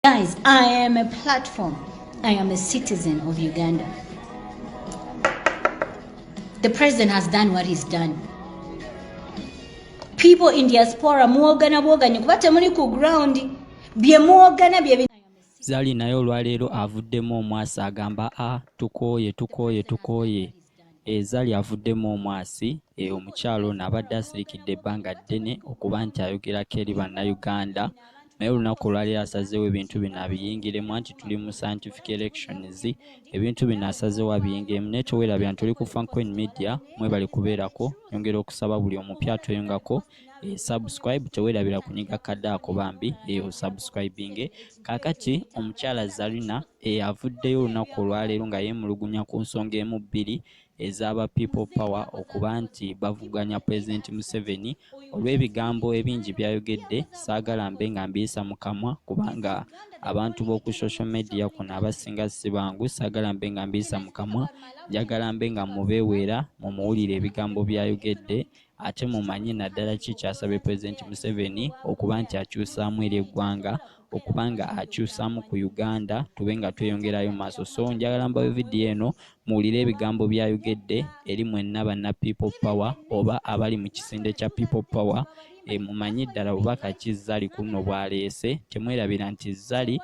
Guys, I am a platform. I am a citizen of Uganda. The president has done what he's done. People in diaspora muwogana bwoganye kuba temuli ku ground bye muwogana bye Zali naye olwaleero avuddemu omwasi agamba a ah, tukooye tukooye tukooye Eza lyavuddemu omwasi e omukyala ono abadde asirikidde ebbanga ddene okuba nti ayogerako eri bannayuganda naye olunaku olwaliro asazeewo ebintu bino abiyingiremu anti tuli mu scientific elections ebintu bino asazeewo abiyingiremu naye tewerabira nti oli ku francoin media mwebale kubeerako yongera okusaba buli omupya atweyungako e, subscribe tewerabira kunyiga kadde ako bambi eyo eh, subscribinge kakati omukyala zarina e, avuddeyo olunaku olwaleero nga yemulugunya ku nsonga emu bbiri ezaba people power okuba nti bavuganya president museveni olw'ebigambo ebingi byayogedde saagala mbe nga mbiyisa mu kamwa kubanga abantu b'oku social media kuno abasinga si bangu saagala mbe nga mbiyisa mu kamwa njagala mbe nga mubeeweera mumuwulire ebigambo byayogedde ate mumanye naddala ki ekyasabye Pulezidenti Museveni okuba nti akyusaamu eri eggwanga okuba nga akyusaamu ku Uganda tube nga tweyongerayo maaso so njagala mbawe vidiyo eno muwulire ebigambo byayogedde eri mwenna banna people power oba abali mu kisinde kya people power e, mumanye ddala bubaka ki zali kuno bwaleese temwerabira nti zali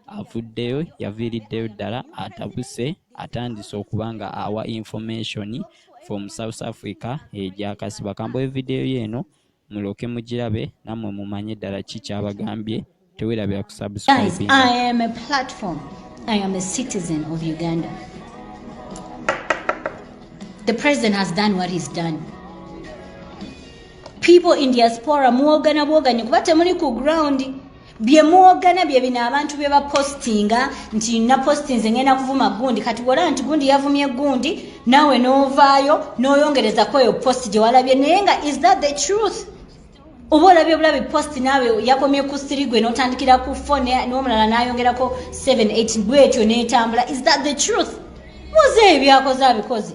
avuddeyo yaviiriddeyo ddala atabuse atandise okuba nga awa information from south africa egyakasi bakamboe video yo eno muloke mugirabe namwe mumanye ddala ki kyabagambye tewerabira ku The president has done what he's done. People in diaspora muwogana bwoganye kuba temuli ku ground bye muwogana bye bino abantu bye bapostinga nti napostinze ngenda kuvuma gundi kati bwolaba nti gundi yavumye gundi naawe n'ovaayo n'oyongereza ku eyo post gye walabye naye nga is that the truth oba olabye obulabi post naawe yakomye ku siri gwe n'otandikira ku fone n'omulala n'ayongerako 78 bwetyo n'etambula is that the truth muze ebyakoze abikoze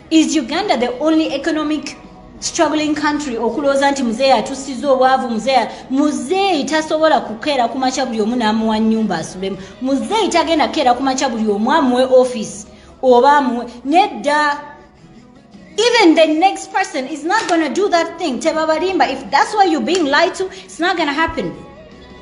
Is Uganda the only economic struggling country okulooza nti muzeeyi atusiza obwavu muzeeyi muzeeyi tasobola kukeera ku makya buli omu n'amuwa nnyumba asulemu muzeeyi tagenda kukeera ku makya buli omu amuwe office oba amuwe nedda even the next person is not gonna do that thing tebabalimba if that's why you're being lied to it's not gonna happen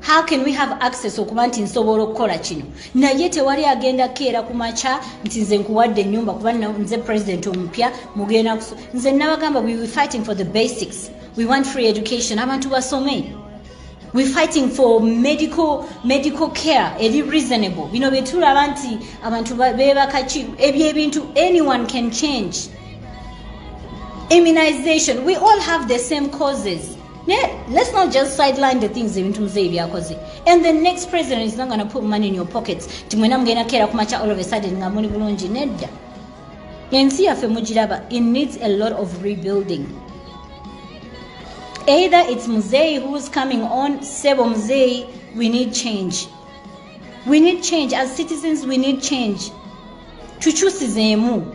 how can we have access okuba nti nsobola okukola kino naye tewali agenda keera ku makya nti nze nkuwadde enyumba kuba nze president omupya mugenda kuso nze nabagamba we were fighting for the basics we want free education abantu basome we fighting for medical medical care eri reasonable bino byetulaba nti abantu bebakaki ebyo ebintu anyone can change immunization we all have the same causes Yeah, let's not just sideline the things ebintu muzeeyi byakoze and the next president is not gonna put money in your pockets ti mwena mugenda keera kumakya all of a sudden nga muli bulungi nedda ensi yaffe mugiraba it needs a lot of rebuilding either it's muzeeyi who's coming on sebo muzeeyi we need change we need change as citizens we need change tukyusizeemu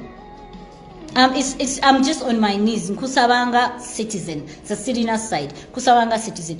Um, it's, it's, I'm just on my knees nkusabanga citizen sasirina side kusabanga citizen